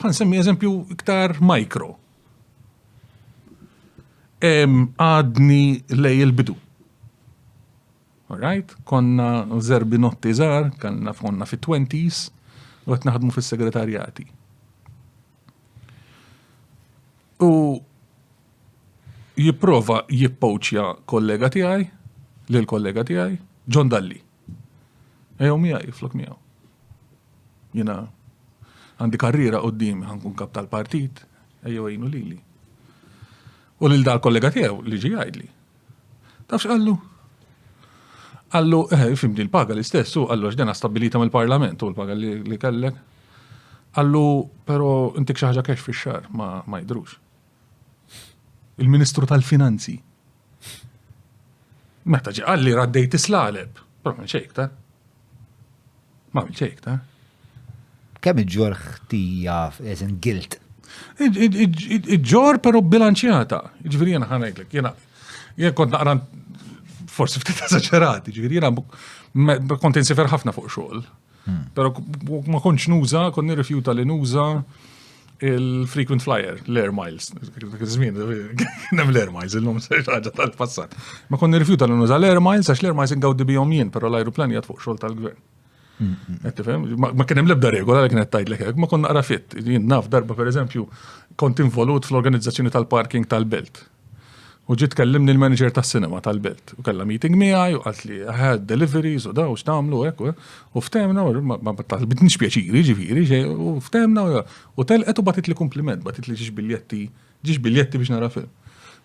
Għan semmi eżempju iktar mikro. Għadni lej il-bidu. Alright, konna zerbi notti zar, konna fonna fit 20s u għet naħdmu fis segretarjati U jiprofa jippoċja kollega tijaj, l-kollega tijaj, John Dalli. Ejjew miegħi flok miegħu. Jiena għandi karriera quddiem ħankun kap tal-partit, ejjew għinu lili. U lil dal kollega tiegħu li ġi jgħidli. Tafx qallu? Qallu, eh, fimdi l-paga l-istess, u qallu ġdena stabilita mill-parlament u l-paga li kellek. Qallu, pero intik xaħġa kex fi xar ma jidrux. Il-Ministru tal-Finanzi Meta ġi qalli raddejt islaleb, però minn xejk ta' ma minn xejk ta' Kemm iġġor ħtija as in guilt? Iġġor però bilanċjata. Ġifieri jiena ħanajtlek, jiena jien kont naqra forsi ftit eżaġerati, ġifieri jiena kont insifer ħafna fuq xogħol, Pero ma konċ nuża, kon nirrifjuta li nuża il-frequent flyer, l-air miles. Zmin, kienem l-air miles, il-lum ħaġa tal-passat. Ma kon nirrifjuta li nuża l-air miles, għax l-air miles ingawdi bijom jien, pero l-aeroplan jgħat fuq xol tal-gvern. Ma kienem lebda regola li kienet tajd l ma kon naqra fit. Jien naf darba, per eżempju, kont involut fl-organizzazzjoni tal-parking tal-belt. U ġiet tkellimni l-manager tas-sinema tal-belt u kellha meeting miegħi u qalt li ħad deliveries u daw x'nagħmlu hekk u u ftemna u ma ma talbitniex pjaċiri ġifieri xejn u ftemna u u telqet u batit li kumpliment, batit li ġiex biljetti ġiex biljetti biex nara film.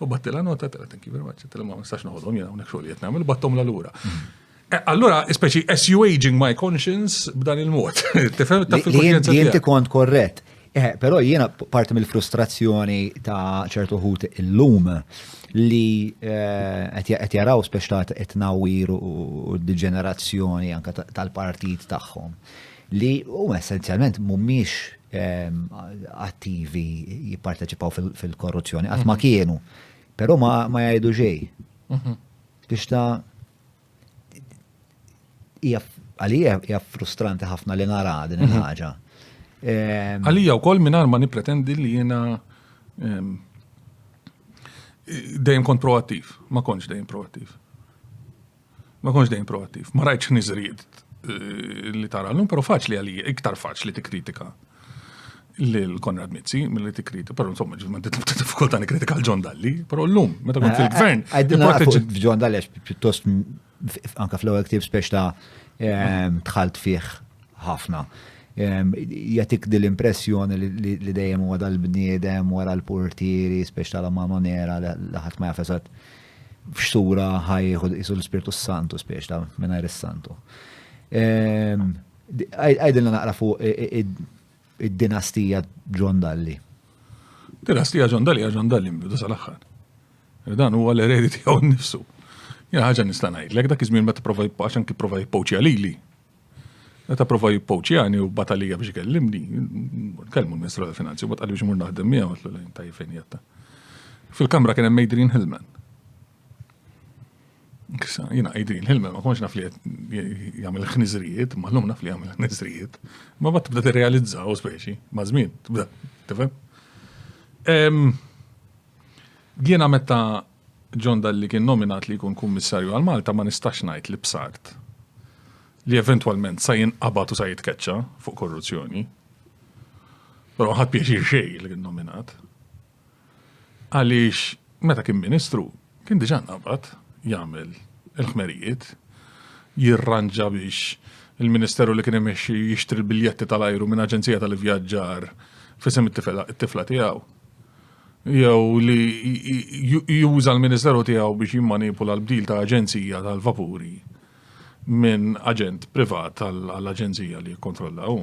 U battilha nota telha thank you very much, għedtilha ma nistax noħodhom jien hawnhekk xogħol li qed nagħmel u batthomlha lura. Eh, allura, speċi, as you aging my conscience b'dan il-mod. Tifhem ta' fil-kuxjenza. Inti kont korrett. Eh, però jiena parti mill-frustrazzjoni ta' ċertu ħut illum li eh, qed jaraw speċtat qed nawir u d-ġenerazzjoni anke tal-partit tagħhom li huma essenzjalment mhumiex ehm, attivi jipparteċipaw fil-korruzzjoni qatt ma mhm. kienu, però ma jgħidu xejn. Mhm. Biex ta' Għalija hija frustranti ħafna li nara din mhm. il-ħaġa. Ehm, Għalija wkoll mingħajr ma nippretendi li jiena ehm, dejjem kont proattiv, ma kontx dejjem proattiv. Ma kontx dejjem proattiv, ma rajtx niżrijiet eh, li tara l-lum, pero faċli għalija, iktar faċli tikkritika. lil Konrad Mizzi milli tikriti, però insomma ġiet m'għandi tibda diffikultà nikkritika l-John Dalli, però llum meta kont fil-gvern. Għaddin John Dalli għax pjuttost anka fl-ewwel ktieb spex ta' ehm, tħalt fih ħafna. Ehm, jatik dil impressjoni li dejjem huwa dal-bniedem wara l-portieri, spex tal mano nera li ħadd ma jafesat f'xura ħajħu jisu l-Spirtu Santu spex ta' mingħajr is-Santu. Ehm, Għidilna naqra fuq id-dinastija John Dalli. Dinastija John Dalli għal John Dalli mbidu sal-aħħar. Dan huwa l-eredi tiegħu nnifsu. Jena ħaġa nista' ngħidlek dak iż-żmien meta prova jibqax anki prova jippoċja lili. Meta prova jippoċjani u batalija biex ikellimni, kelmu l-Ministru tal-Finanzi u bat qalli biex mur naħdem miegħu għatlu lejn tajjeb fejn jatta. Fil-kamra kien hemm Adrian Hillman. Jina għajdin, il-ħilma ma konx naf li jgħamil ħnizrijiet, ma l-lum naf li jgħamil ħnizrijiet, ma bat tibda t-realizza u speċi, ma zmin, tibda, tifem. Jina meta John Dalli kien nominat li jkun kummissarju għal Malta ma nistax ngħid li bsart li eventualment sa jinqabad u sa jitkeċċa fuq korruzzjoni. Però ħadd pjaċir xejn li kien nominat. Għaliex meta kien Ministru kien diġà nqabad jagħmel il-ħmerijiet, jirranġa biex il-Ministeru li kien imexxi jixtri l-biljetti tal-ajru minn aġenzija tal-ivvjaġġar f'isem it-tifla tiegħu. Jew li juża l-Ministeru tiegħu biex jimmanipula l-bdil ta' aġenzija tal-vapuri minn aġent privat għall-aġenzija li jikkontrolla hu.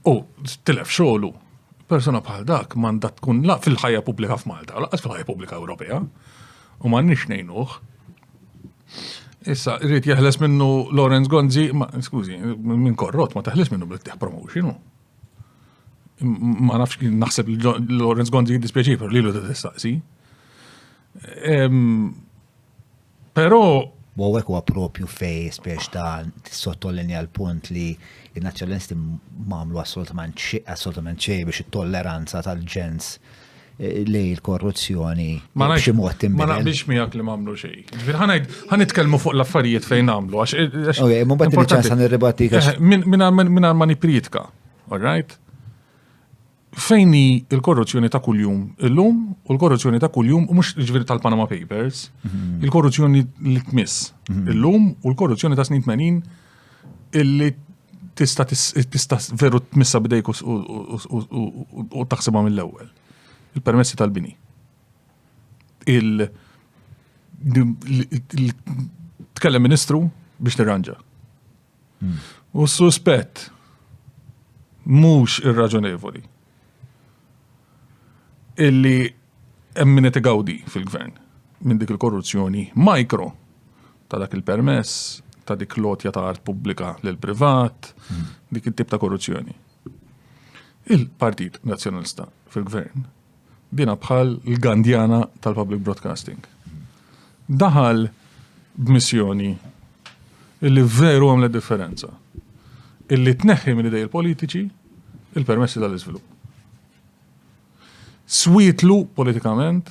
U tilef xogħlu. Persuna bħal dak m'għandha tkun la fil-ħajja pubblika f'Malta, laqas fil-ħajja pubblika Ewropea. U m'għandniex ngħinuh. Issa, rrit jeħles minnu Lawrence Gonzi, ma, skużi, minn korrot, ma teħles minnu bl-tieħ promotion. Ma nafx naħseb li Lawrence Gonzi jiddispjaċi, per li l-u t-testaqsi. Però U għek huwa propju fej spiex ta' sottolinja l-punt li il-nazjonalisti mamlu assolutament assolutament xej biex it-tolleranza tal-ġens eh, li l-korruzzjoni ma nafx mod Ma naqbilx miegħek li mamlu xej. Ġifier ħanajd ħanitkellmu fuq l-affarijiet fejn nagħmlu għax. Eh, eh, ok, ma bad ċans nirribatti. Minn ma nipritka, all right? Fejn hi l-korruzzjoni ta' kuljum illum u l-korruzzjoni ta' kuljum u mhux ġifieri tal-Panama Papers, mhm. il-korruzzjoni li tmiss mhm. illum u l-korruzzjoni ta' snin 80 illi tista' tista' veru tmissa bidejk u taħsibha mill-ewwel. Il-permessi tal-bini. Il tkellem ministru biex tirranġa. U s-suspett mhux irraġonevoli illi hemm min qed igawdi fil-gvern minn dik il-korruzzjoni mikro ta' dak il-permess, ta' dik lotja ta' art pubblika lil privat, dik it-tip ta' korruzzjoni. Il-Partit Nazzjonalista fil-gvern Dina bħal l-gandjana tal-public broadcasting. Daħal b'missjoni illi veru għamlet differenza. Illi tneħħi minn idej il-politiċi il-permessi tal-iżvilupp. Switlu politikament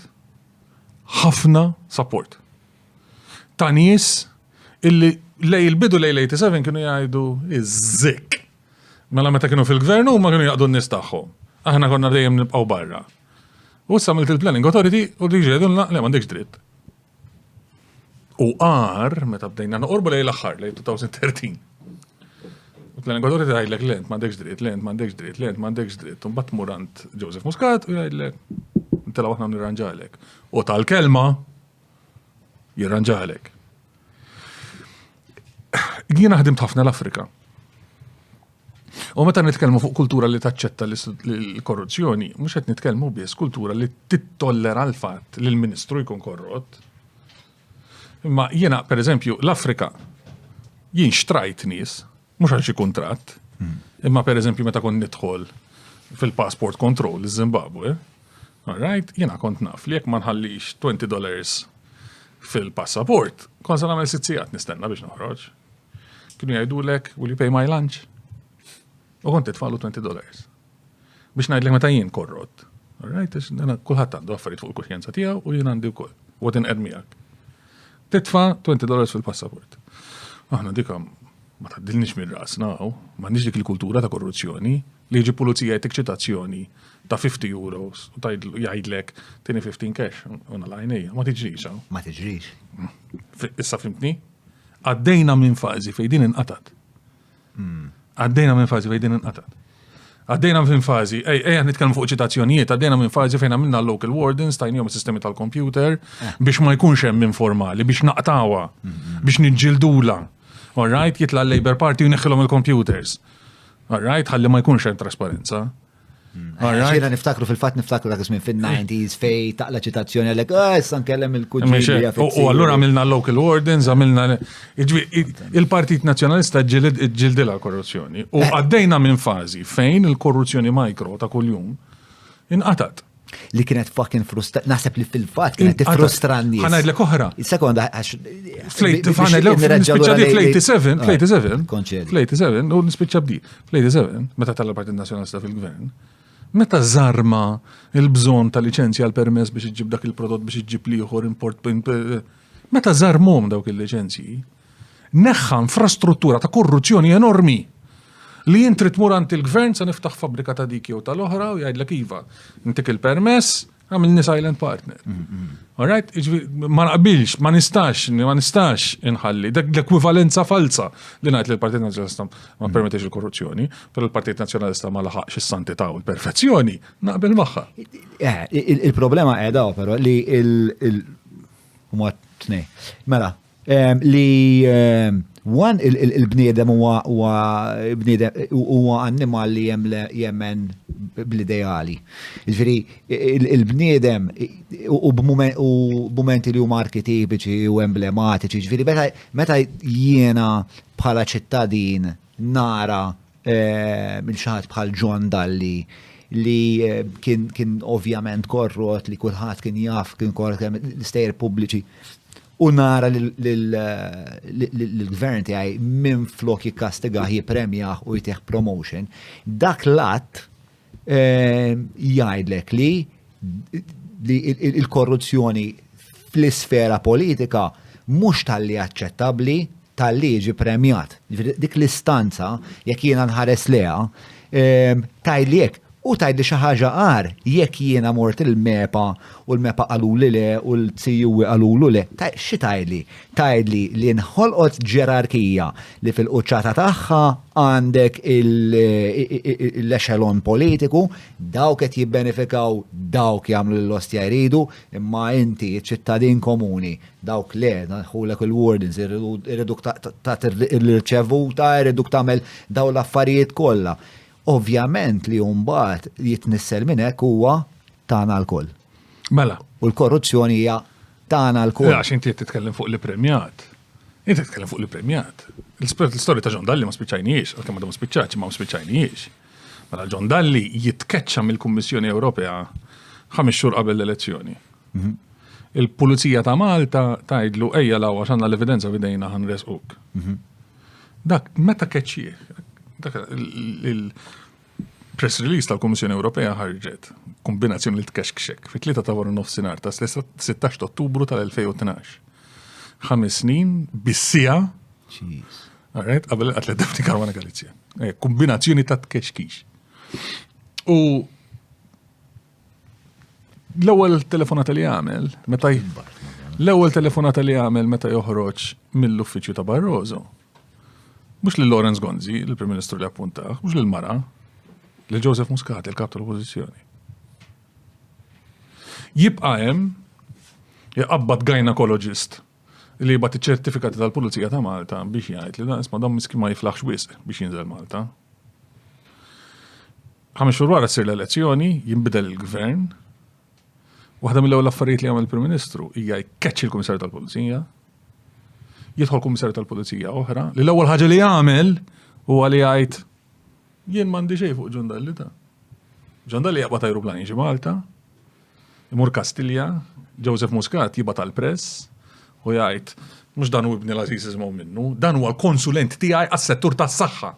ħafna support. Ta' nies illi lej il-bidu lej 87 kienu jgħidu iż-żik. Mela meta kienu fil-gvern huma kienu jaqdu n-nies tagħhom. Aħna konna dejjem nibqgħu barra. U issa milt il-planning authority u diġi jgħidulna le m'għandekx dritt. U għar, meta bdejna noqorbu lej l-aħħar, lej 2013. U planning authority għajdlek lent m'għandekx dritt, lent m'għandekx dritt, lent m'għandekx dritt. Un bat murant Joseph Muscat u jgħidlek, intela waħna nirranġalek. U tal-kelma, jirranġalek. Jien ħdimt ħafna l-Afrika. U meta nitkellmu fuq kultura li taċċetta l-korruzzjoni, mhux qed nitkellmu biss kultura li tittollera l-fatt li l-Ministru jkun korrott. Imma jiena, per eżempju, l-Afrika, jien xtrajt nies mhux għal xi kuntratt, imma pereżempju meta kont nidħol fil-passport control iż-Zimbabwe, alright, jiena kont naf li jekk ma nħallix 20 dollars fil-passaport, kont se nagħmel sitt sigħat nistenna biex noħroġ. Kienu jgħidulek, will you pay my lunch? U kont titfalu 20 dollars. Biex ngħidlek meta jien korrott. Alright, kulħadd għandu affarijiet fuq il-kuxjenza tiegħu u jien għandi wkoll. U għadin qed miegħek. Titfa' 20 dollars fil-passaport. Aħna dikam ma taddilniex minn rasna hawn, m'għandniex dik il-kultura ta' korruzzjoni li jiġi pulizija jtik ċitazzjoni ta' 50 euros u jgħidlek tieni 15 cash u nalajnija, ma tiġrix hawn. Ma tiġrix. Issa fimtni? Għaddejna minn fażi fejn din inqatat. Għaddejna minn fażi fejn din inqata'. Għaddejna minn fażi, ej, ej, nitkellmu fuq ċitazzjonijiet, għaddejna minn fażi fejn għamilna local wardens, tajnijom sistemi tal-kompjuter, eh. biex ma jkunx hemm informali, biex naqtawa, mm-hmm. biex nġildula. All right, jitla l-Labor Party u neħħilhom il-computers. All right, ħalli ma jkunx hemm trasparenza. Xena niftakru fil-fat niftakru dak ismin fin-90s fej taqla ċitazzjoni għalek, ah, issa nkellem il-kuġġi. U għallura għamilna local wardens, għamilna il-Partit Nazjonalista ġildila korruzzjoni. U eh. għaddejna minn fazi fejn il-korruzzjoni mikro ta' kuljum inqatat. li kienet fucking frustra, nasab li fil-fat kienet frustrandi. Għanajd l oħra. Sekonda, għax. Fl-87, fl-87, u nispiċċa bdi, fl-87, meta tal-Partit Nazjonalista fil-Gvern, meta zarma il-bżon ta' licenzja għal permess biex iġib dak il-prodott biex iġib liħor import, meta zarmom dawk il-licenzji, Neħħa infrastruttura ta' korruzzjoni enormi li int trid tmur għand il-gvern se niftaħ fabbrika ta' dik jew tal-oħra u jgħidlek iva, intik il-permess, għamilni silent partner. Mm, mm. Alright? Ma naqbilx, ma nistax, ma nistax inħalli. Dak l-ekwivalenza falsa li ngħid li l-Partit Nazzjonalista ma mm. permettix il-korruzzjoni, però l-Partit Nazzjonalista ma laħaqx is-santità u l-perfezzjoni, naqbel magħha. Eh, il-problema qiegħda però li il- Mela, Li one il-bniedem huwa huwa annimal li jemmen bl-ideali. Ġifieri il-bniedem u b'mumenti li huma arkitipiċi u emblematiċi, ġifieri meta jiena bħala ċittadin nara lil xi ħadd bħal John Dalli li kien ovvjament korrott li kulħadd kien jaf kien korrott l-istejjer pubbliċi. u nara l-gvern tiegħi minn flok jikkastigaħ jipremjaħ u jtih promotion, dak l-att eh, jgħidlek li li il-korruzzjoni fl-isfera politika mhux tal-li aċċettabbli talli jiġi premjat. Jiġifieri dik l-istanza jekk jiena nħares lejha tgħidli hekk u tgħidli xi ħaġa agħar jekk jiena mort il-MEPA u l-MEPA qaluli le u l-CUE qalulu le. Xi tgħidli? Tgħidli li nħolqot ġerarkija li fil-quċċata tagħha għandek l-echelon politiku, dawk qed jibbenefikaw, dawk jagħmlu lill-ostja jridu, imma inti ċ-ċittadin komuni Dawk le, nħulek il-wardens, irriduk tagħti l-irċevuta, irriduk tagħmel daw l-affarijiet kollha. Ovvjament li mbagħad jitnissel minn hekk huwa tagħna lkoll. Mela. U l-korruzzjoni hija tagħna lkoll. Għax inti titkellem fuq l-premjat. Inti titkellem fuq l-premjat. L-istorja ta' John Dalli ma spiċċajniex, għalkemm għadhom spiċċaċ ma spiċċajniex. Mela John Dalli jitkeċċa mill-Kummissjoni Ewropea ħames xhur qabel l-elezzjoni. Mhm. Il-Pulizija ta' Malta tgħidlu ejja law għax għandna l-evidenza bidejna ħan resquk. Mhm. Dak meta keċċi, dak il-press release tal-Kummissjoni Ewropea ħarġet kombinazzjoni li tkexkxek fit-tlieta ta' wara nofsinhar ta' 16 Ottubru tal-2012. Ħames snin bissija. Jeez. Alright, qabel għatlet Daphne Caruana Galizia. Eh, kombinazzjoni ta' tkexkix. U L-ewwel telefonata li għamel meta l-ewwel telefonata li għamel meta joħroġ mill-uffiċċju ta' Barroso. Mhux lil Lawrence Gonzi, il-Prim Ministru li appuntaħ, mhux lil Mara, lil Joseph Muscat, il-kap tal-Oppożizzjoni. Jibqa' hemm jaqabbad gynekoloġist li jibgħat iċ-ċertifikati tal-Pulizija ta' Malta biex jgħid li dan isma' dan miski ma jiflaħx wisq biex jinżel Malta. Ħames xhur wara ssir l-elezzjoni, jinbidel il-gvern. Waħda mill-ewwel affarijiet li jagħmel il-Prim Ministru hija jkeċċi l-Kummissarju tal-Pulizija. Jidħol Kummissarju tal-Pulizija oħra li l-ewwel ħaġa li jagħmel huwa li jgħid jien m'għandi xejn fuq ġondalli ta'. Ġondalli jaqbad ajruplan jiġi Malta, imur Kastilja, Joseph Muscat jibgħat tal-press u jgħid mhux dan u ibni l-Aziz minnu, dan huwa l-konsulent tiegħi għas-settur tas-saħħa.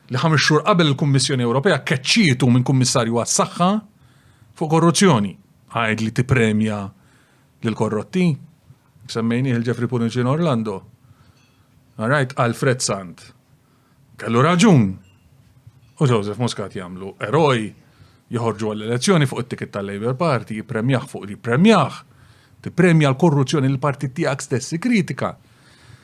li ħames xhur qabel il-Kummissjoni Ewropea keċċietu minn Kummissarju għas-Saħħa fuq korruzzjoni. Għajd li tippremja lil korrotti. Semmejni il-Ġefri Puniċin Orlando. Għarajt Alfred Sant. Kellu raġun. U Joseph Muscat jagħmlu eroj joħorġu għall-elezzjoni fuq it-tikit tal-Labour Party, jippremjaħ fuq li jippremjaħ, Tippremja l-korruzzjoni li l-partit tiegħek stess ikkritika.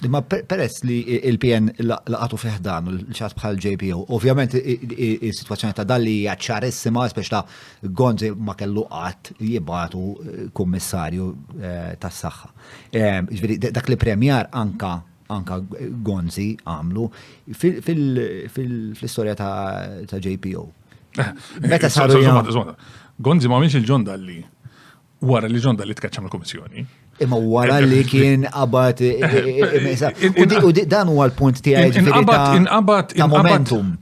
Imma peress li il-PN laqatu fiħdan u l-ċat bħal JPO, ovvjament il-situazzjoni ta' dalli hija ċarissima, speċ ta' Gonzi ma kellu qatt jibatu eh, kummissarju eh, tas saħħa eh, Ġviri, dak li premjar anka anka Gonzi għamlu fil-istoria ta' JPO. Meta saru. Gonzi ma minx il-ġon dalli. Wara li John Dalli tkeċċa mill-Kummissjoni. Imma wara li kien qabad u dan huwa l-punt tiegħi ġifieri inqabad ta' momentum.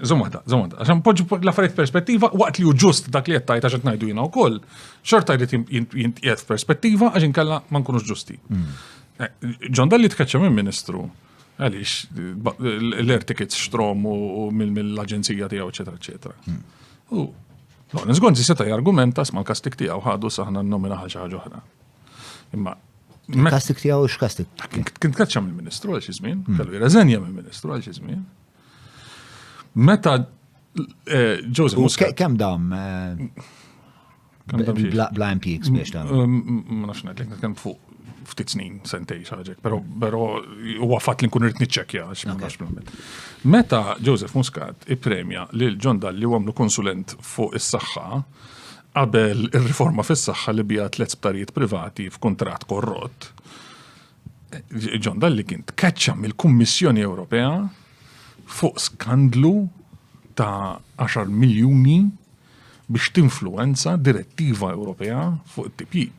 Żomada, żomada, għaxan poġġu l-affarijiet perspettiva waqt li hu ġust dak li qed tajt għax ngħidu jiena wkoll, xorta jrid jintqiegħed f'perspettiva għax inkella ma nkunux ġusti. Hmm. Eh, John Dalli tkeċċa minn Ministru għaliex l-air tickets xtrom u mill-aġenzija tiegħu, eċetera, eċetera. Hmm. Lawrence Gonzi seta' jargumenta sma l-kastik tiegħu ħadu saħna n-nomina ħal xi ħaġa oħra. Imma kastik tiegħu x'kastik? Kien tkaċċa mill-Ministru għal xi żmien, hmm. kellu jirreżenja mill-Ministru għal xi żmien. Meta eh, Joseph Muscat. Kemm dam? Eh, bla impjieg biex ta' mm, mm, mm, ma nafx ngħidlek nitkellem fuq ftit snin, sentej xaġek, pero pero huwa fatt li nkun rrit niċċekja għax ma nafx bl Meta Joseph Muscat ippremja lil John Dalli u għamlu konsulent fuq is-saħħa qabel ir-riforma fis-saħħa li bija tliet sptarijiet privati f'kuntratt korrott. John Dalli kien tkeċċa mill-Kummissjoni Ewropea fuq skandlu ta' 10 miljuni biex tinfluenza direttiva Ewropea fuq it-tipjib.